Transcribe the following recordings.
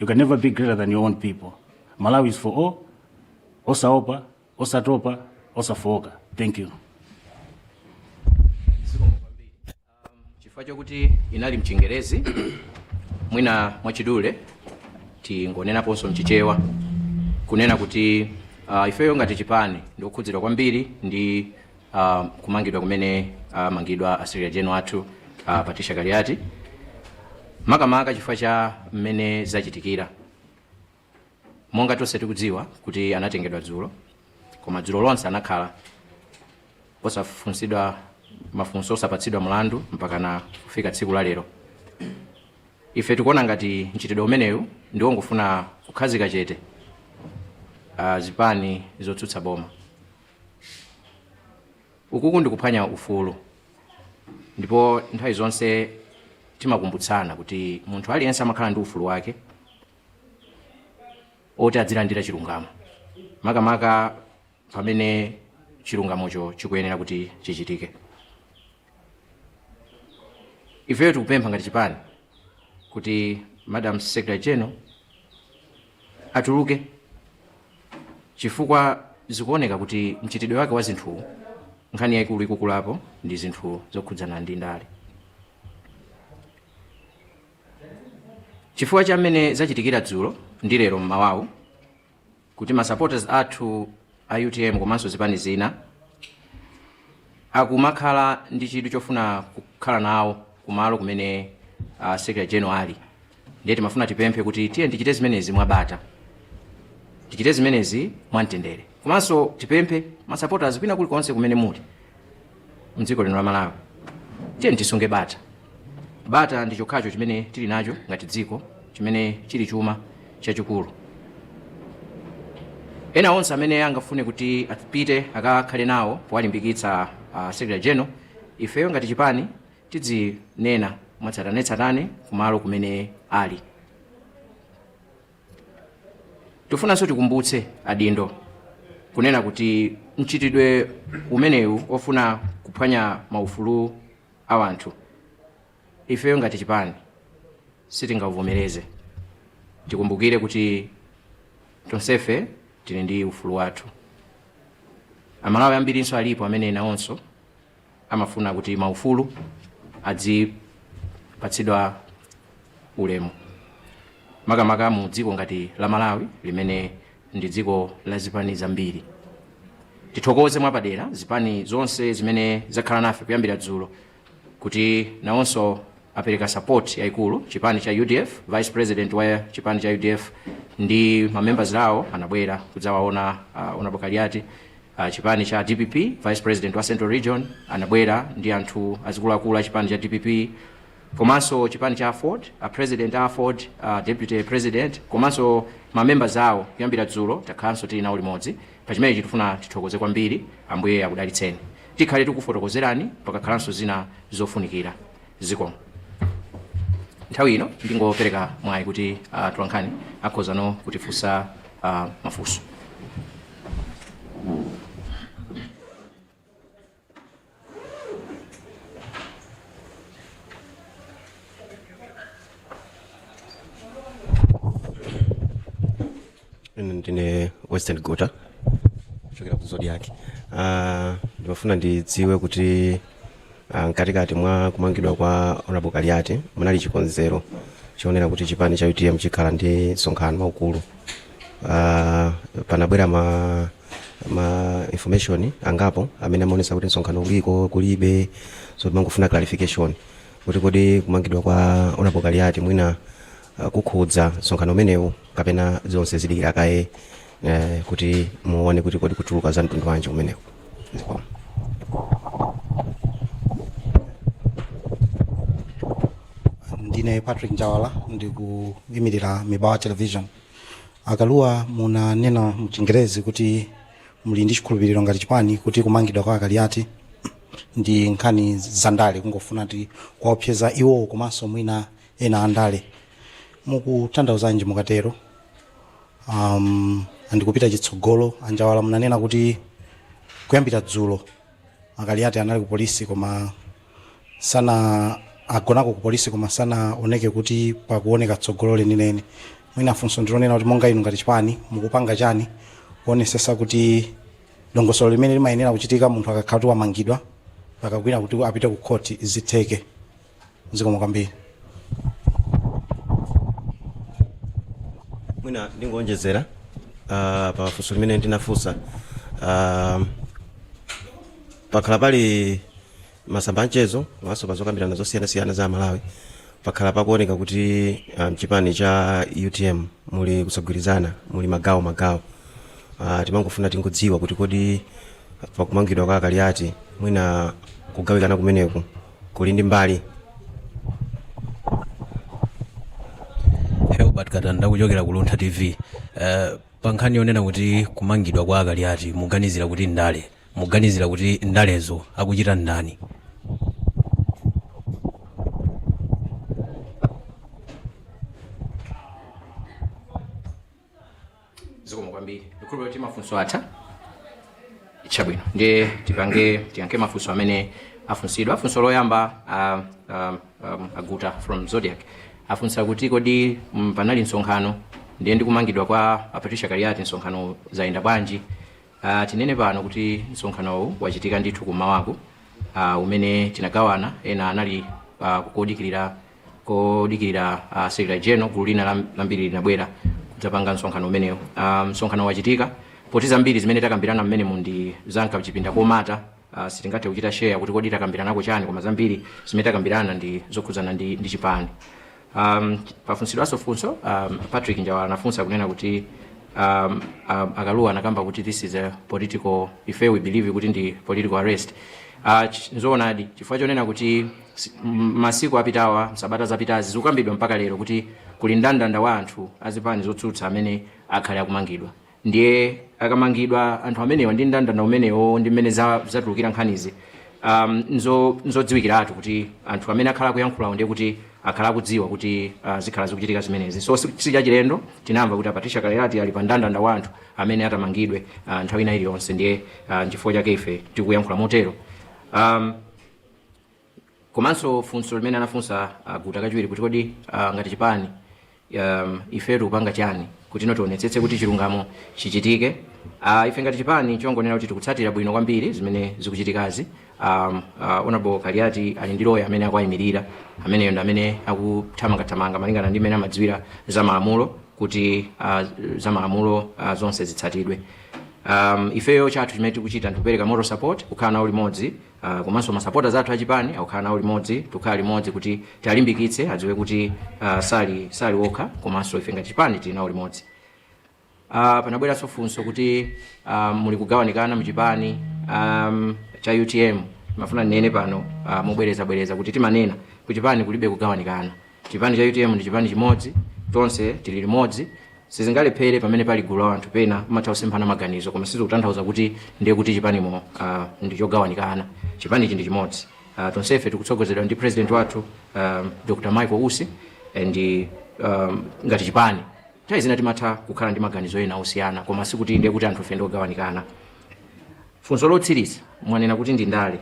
you can never be greater than your own people malawi is for all osaopa osatopa osafooka thank you chifukwa chokuti inali mchingerezi mwina mwachidule tingonenaponso mchichewa kunena kuti uh, ifeyo ngati chipani ndi okhudzidwa kwambiri ndi uh, kumangidwa kumene amangidwa uh, a secretary general athu uh, patricia kaliati makamaka chifukwa cha mmene zachitikira monga tonse tikudziwa kuti anatengedwa dzulo koma dzulo lonse anakhala osafunsidwa mafunso osapatsidwa mlandu mpakana kufika tsiku la lero ife tikuona ngati mchitidwe umenewu ndi wongofuna kukhazika chete uh, zipani zotsutsa boma Ukuku ndi kuphwanya ufulu ndipo nthawi zonse timakumbutsana kuti munthu aliyense amakhala ndi ufulu wake oti adzilandira chilungamo makamaka pamene chilungamocho chikuyenera kuti chichitike. Ifeyo tikupempha ngati chipani kuti Madam Secretary General atuluke chifukwa zikuoneka kuti mchitidwe wake wa zinthuwu nkhani yaikulu ikukula apa ndi zinthu zokhudzana ndi ndale chifukwa cha mmene zachitikira dzulo ndi lero mmawawu kuti ma supporters athu a utm komanso zipani zina akumakhala ndi chidwi chofuna kukhala nawo kumalo kumene uh, secretary general ali ndiye timafuna tipemphe kuti tiyeni tichite zimenezi mwabata tichite zimenezi mwamtendere komanso tipemphe masupporters kwina kulikonse kumene muli mdziko lino la malawi tiyeni tisunge bata bata ndi chokhacho chimene tili nacho ngati dziko chimene chili chuma chachikulu ena onse amene angafune kuti apite akakhale nawo powalimbikitsa uh, secretary general ifeyo ngati chipani tidzinena mwatsatanetsatane kumalo kumene ali. Tifunanso tikumbutse adindo kunena kuti mchitidwe umenewu ofuna kuphwanya maufulu a wanthu ifeyo ngati chipani sitingauvomereze. Tikumbukire kuti tonsefe tili ndi ufulu wathu. Amalawi ambirinso alipo amene nawonso amafuna kuti maufulu adzipatsidwa ulemu makamaka mu dziko ngati la Malawi limene ndi dziko la zipani zambiri. Tithokoze mwapadera zipani zonse zimene zakhala nafe kuyambira dzulo kuti nawonso apereka support yaikulu chipani cha udf president wa chipani cha udf ndi ma members awo anabwera kudzawaona uh, honorable kaliati uh, chipani cha dpp vice president wa central region anabwera ndi anthu azikuluakulu a chipani cha dpp komanso chipani cha aford a president a aford uh, deputy president komanso ma members awo kuyambira dzulo takhalanso tili nawo limodzi pa chimenechi tifuna tithokoze kwambiri ambuye akudalitseni Tikhale tikufotokozerani pakakhalanso zina zofunikira. Zikomo. Nthawi ino ndingopereka mwayi kuti atolankhani akhoza no kutifunsa ah, mafunso. Ine ndine western guta kuchokera ku zodiak Ah, ndimafuna ndidziwe kuti ah, mkatikati mwa kumangidwa kwa honorable kaliati munali chikonzero choonetsa kuti chipani cha utm chikhala ndi msonkhano waukulu Ah, panabwera ma ma information angapo amene amaonetsa kuti msonkhano uliko kulibe so timangofuna clarification kuti kodi kumangidwa kwa honorable kaliati mwina ah, kukhudza msonkhano umenewu kapena zonse zidikira kaye eh, kuti muone kuti kodi kutuluka za mtundu wanji kumeneko Zikomo. ndine patrick njawala ndikuyimirira mibawa television a kalua munanena mchingerezi kuti muli ndi chikhulupiriro ngati chipani kuti kumangidwa kwa akaliati ndi nkhani zandale kungofuna kuti kuwaopseza iwowo komanso mwina ena andale mukutanthauzanji mukatero um, ndi kupita chitsogolo anjawala munanena kuti kuyambira dzulo akaliati anali ku polisi koma masana agonako ku polisi koma sizikuoneka kuti pakuoneka tsogolo lenileni mwina funso ndilonena kuti monga inu ngati chipani mukupanga chani kuonesesa kuti dongosolo limene limayenera kuchitika munthu akakhala kuti wamangidwa mpaka kwina kuti apite ku khoti zitheke zikomo kwambiri mwina ndingonjezera uh, pa funso limene ndinafunsa uh, pakhala pali masamba anchezo komanso pa zokambirana zosiyanasiyana za malawi pakhala pakuoneka kuti uh, mchipani cha utm muli kusagwirizana muli magawo magawo uh, timangofuna tidziwe kuti kodi pakumangidwa kwa akaliati mwina kugawikana kumeneku kuli ndi mbali herbert katanda kuchokera ku luntha tv uh, pa nkhani yonena kuti kumangidwa kwa akaliati muganizira kuti ndale muganizira kuti ndalezo akuchita ndani zikomo kwambiri ndikhulupira kuti mafunso atha chabwino ndiye tipange tiyankhe mafunso amene afunsidwa funso loyamba ah, ah, um, aguta from zodiak afunsa kuti kodi mm, panali msonkhano ndiye ndi kumangidwa kwa a patricia kaliati msonkhano zayenda bwanji Ah, tinene pano kuti msonkhanowu wachitika ndithu kummawaku ah, umene tinagawana ena anali ah, kukodikirira odikirira a secretary general gulu lina lam- lambiri linabwera kudzapanga msonkhano umenewu Ah, msonkhano wachitika poti zambiri zimene takambirana mmenemu ndi za kumchipinda komata ah, sitingathe kuchita share kuti kodi takambiranako chani koma zambiri zimene takambirana ndi zokhudzana ndi, ndi chipani um, pafunsidwanso funso um, patrick njawala anafunsa kunena kuti um, um, akaluwa anakamba kuti this is political ife we believe kuti ndi political arrest uh, ch- nzoonadi chifukwa chonena kuti Si- m- masiku apitawa msabata zapitazi zikukambidwa mpaka lero kuti kuli ndandanda wa anthu azipani zotsutsa amene akhale akumangidwa ndiye akamangidwa anthu amenewa ndi ndandanda umenewo ndi mmene za- zatulukira nkhanizi um, nzo- nzodziwikiratu kuti anthu amene akhala akuyankhulawo ndiye kuti akhala akudziwa kuti uh, zikhala zikuchitika zimenezi so si si chachilendo tinamva kuti apatricia kaliati ali pa ndandanda wa anthu amene atamangidwe uh, nthawi ina iliyonse ndiye uh, nchifukwa chake ife tikuyankhula motero um, komanso funso limene anafunsa uh, guta kachiwiri kuti kodi uh, ngati chipani um, ife tikupanga chani kuti no tionetsetse kuti chilungamo chichitike uh, ife ngati chipani chongonena kuti tikutsatira bwino kwambiri zimene zikuchitikazi um, uh, honorable kaliati ali ndi loya amene akuwayimirira ameneyo ndi amene akuthamangathamanga malingana ndi mmene amadziwira za malamulo kuti uh, za malamulo uh, zonse zitsatidwe um, ifeyo chathu chimene tikuchita ndikupereka moral support kukhala nawo limodzi Uh, komanso masapota athu achipani akukhala nawo limodzi tikukhala limodzi kuti tiwalimbikitse adziwe kuti uh, sali sali okha komanso ife ngati chipani tili nawo limodzi uh, panabweranso funso kuti uh, muli kugawanikana mchipani um, cha utm ndimafuna ndinene pano uh, mobwerezabwereza kuti timanena kuchipani kulibe kugawanikana Chipani cha utm ndi chipani chimodzi, tonse tili limodzi, sizingalephere pamene pali gulu la wanthu pena pamatha kusemphana maganizo koma sizikutanthauza kuti ndiye kuti chipanimo ah, ndi chogawanikana. Chipanichi ndi chimodzi. Ah, tonsefe tikutsogozedwa ndi president wathu ah, Dr. Michael Usi eh, ndi ah, ngati chipani nthawi zina timatha kukhala ndi maganizo ena osiyana koma sikuti ndiye kuti anthufe ndi ogawanikana. Funso lotsiriza mwanena kuti ndi ndale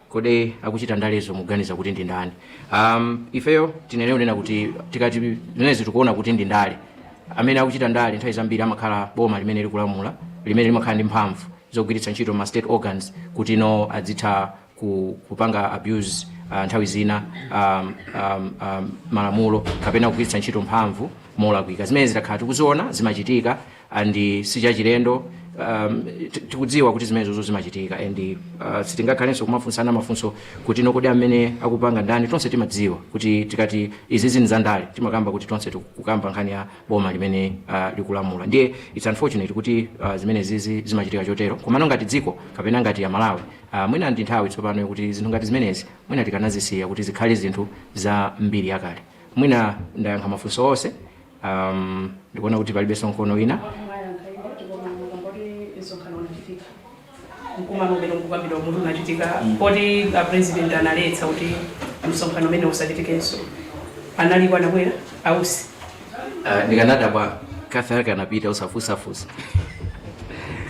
kodi akuchita ndalezo muganiza kuti ndi ndani um, ifeyo tinene kunena kuti tikati zimenezi tikuona kuti ndi ndale amene akuchita ndale nthawi zambiri amakhala boma limene likulamula limene limakhala ndi mphamvu zogwiritsa ntchito ma state organs kuti no adzitha ku, kupanga abuse uh, nthawi zina um, um, um, malamulo kapena kugwiritsa ntchito mphamvu molakwika zimene zitakhala tikuziona zimachitika and sichachilendo um, ti- tikudziwa kuti zimenezozo zimachitika and uh, sitingakhalenso kumafunsana mafunso kuti no kodi amene akupanga ndani tonse timadziwa kuti tikati izizi ndi za ndale timakamba kuti tonse tikukamba nkhani ya boma limene uh, likulamula ndiye its unfortunate kuti uh, zimenezizi zimachitika chotero komano ngati dziko kapena ngati amalawi uh, mwina ndi nthawi tsopano yokuti zinthu ngati zimenezi mwina tikanazisiya kuti zikhale zinthu za mbiri yakale mwina ndayankha mafunso onse Um, ndikuona kuti palibenso mkono wina mwayankha ine ndipo mwayankha poti msonkhano unachitika mkumano umene ukukambidwawu unachitika poti a president analetsa kuti msonkhano umenewu usachitikenso analipo anabwera ausi uh, ndikanadabwa kafe ake anapita usafusafusa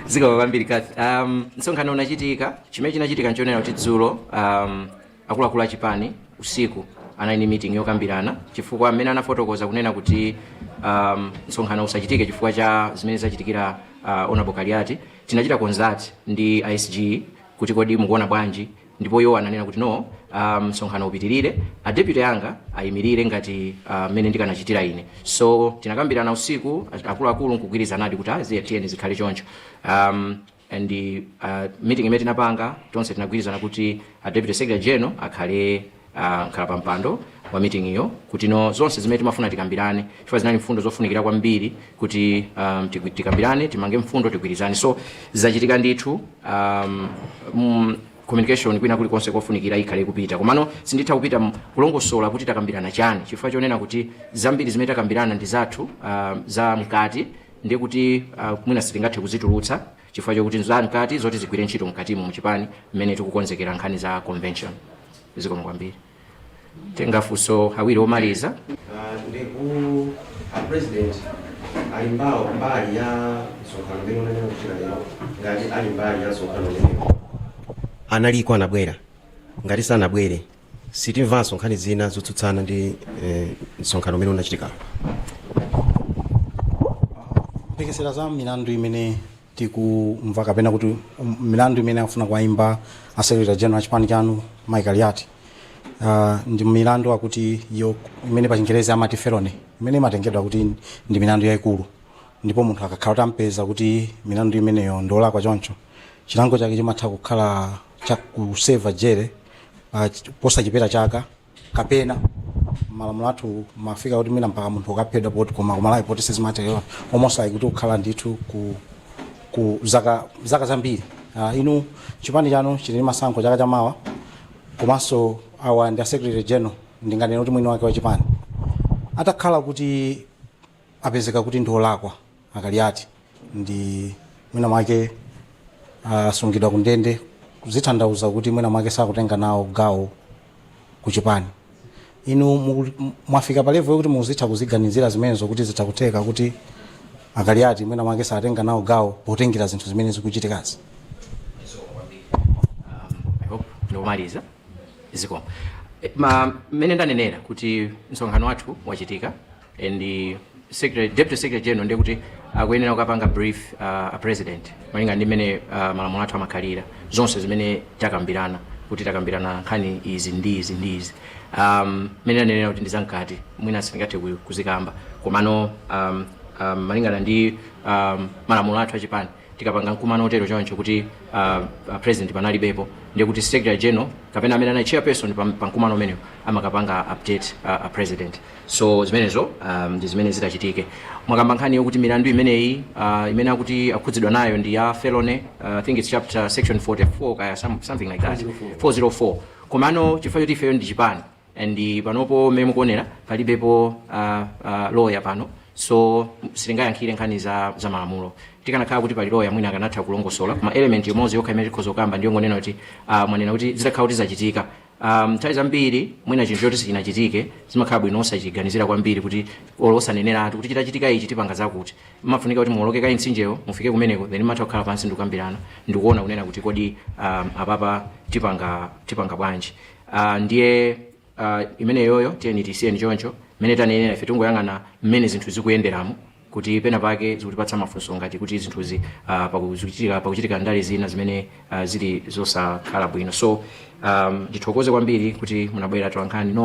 zikaba kwambiri kafe um, msonkhano unachitika chimene chinachitika nchonena kuti dzulo um, akuluakulu a chipani usiku anali ndi meeting yokambirana chifukwa mmene anafotokoza kunena kuti um, msonkhano usachitike chifukwa cha zimene zachitikira uh, honorable kaliati tinachita consult ndi a SG kuti kodi mukuona bwanji ndipo iwo ananena kuti no um, msonkhano upitirire a deputy anga ayimirire ngati uh, mmene ndikanachitira ine so tinakambirana usiku akuluakulu nkugwirizanadi kuti ayi tiyeni zikhale choncho um, and meeting imene tinapanga tonse tinagwirizana kuti a deputy secretary general akhale ah, mkhalapampando wa meeting yo kuti no zonse zimene timafuna tikambirane chifukwa zinali mfundo zofunikira kwambiri kuti um, tigwi- tikambirane timange mfundo tigwirizane so zachitika ndithu um, mm, communication kwina kulikonse kofunikira ikhale kupita komano sinditha kupita m- kulongosola kuti takambirana chani chifukwa chonena kuti zambiri zimene takambirana ndi zathu ah, za mkati ndiye kuti uh, mwina sitingathe kuzitulutsa chifukwa chokuti nzamkati zoti zigwire ntchito mkatimo mchipani mmene tikukonzekera nkhani za convention zikomo kwambiri titenge mafunso awiri omaliza uh, ndi kuti a president ali mbawo mbali ya msonkhano umene unanena wachitika lero ngati ali mbali ya msonkhano umenewu analiko anabwera ngati sanabwere sitimvaso nkhani zina zotsutsana ndi eh, msonkhano umene unachitikawu mphekesera za milandu imene tikumva kapena kuti um, milandu imene akufuna kuwayimba a secretary general a chipani chanu mayi kaliati uh, ndi milandu ikuti iyo imene pa chingerezi amati felony imene imatengedwa kuti ndi milandu yayikulu ndipo munthu akakhala kuti ampeza kuti milandu imeneyo ndiolakwa choncho chilango chake chimatha kukhala cha kuseva jele uh, posachepera chaka kapena malamulo athu mafika kuti mwina mpaka munthu ukaphedwa poti koma ku Malawi poti sizimatero mwinanso ndikuti kukhala ndithu ku, ku zaka, zaka zambiri uh, inu chipani chanu chili ndi masankho chaka chamawa komanso awa ndi a secretary general ndinganena kuti mwini wake wa chipani atakhala kuti apezeka kuti ndi olakwa Akaliati ndi mwina mwake asungidwa ku ndende zikutanthauza kuti mwina mwake sakutenga nawo gawo ku chipani inu muku- m- mwafika pa level yokuti muzitha kuziganizira zimenezo kuti zitha kutheka kuti akaliati mwina mwake satenga nawo gawo potengera zinthu zimene zikuchitikazi I hope ndikumaliza zikomo Eh, ma mmene ndanenera kuti msonkhano wathu wachitika and the secretary, deputy secretary general ndiye kuti akuyenera kukapanga brief uh, a president malingana ndi mmene uh, malamulo athu amakhalira zonse zimene takambirana kuti takambirana nkhani izi ndi izi ndi izi um, mmene ndanenera kuti ndi zamkati mwina sindingathe ku- kuzikamba komano um, um, malingana ndi um, malamulo athu achipani tikapanga mkumano otero choncho kuti uh, a president panalibepo ndiye kuti secretary general kapena amene anali chairperson pa, pa mkumano umenewo amakapanga update uh, a president so zimenezo um, ndi zimene zitachitike mwakamba nkhani yokuti milandu imeneyi uh, imene akuti akhudzidwa nayo ndi ya felony uh, i think it's chapter section 44 kaya some, something like that 404 komano chifukwa choti ifeyo ndi chipani and panopo mmene mukuonera palibepo uh, uh, lawyer pano so sitingayankhire nkhani za, za malamulo tikanakhala kuti pali lawyer mwina akanatha kulongosola koma element imodzi yokha imene tikhoza kukamba ndiyo ngonena kuti uh, mwanena kuti zitakhala kuti zachitika um, nthawi zambiri mwina chinthu choti sichinachitike zimakhala bwino osachiganizira kwambiri kuti olo osaneneratu kuti chitachitika ichi tipanga zakuti zimafunika kuti muwoloke kaye mtsinjewo mufike kumeneko then mumatha kukhala pansi ndikukambirana ndikuona kunena kuti kodi um, apapa tipanga tipanga bwanji uh, ndiye uh, imeneyoyo tiyeni tisiyeni choncho mmene tanenera ife tingoyang'ana mmene zinthu zikuyenderamu kuti pena pake zikutipatsa mafunso ngati kuti zinthuzi uh, pakuchitika pakuchitika ndale zina zimene uh, zili zosakhala bwino so um, ndithokoze kwambiri kuti munabwera atolankhani no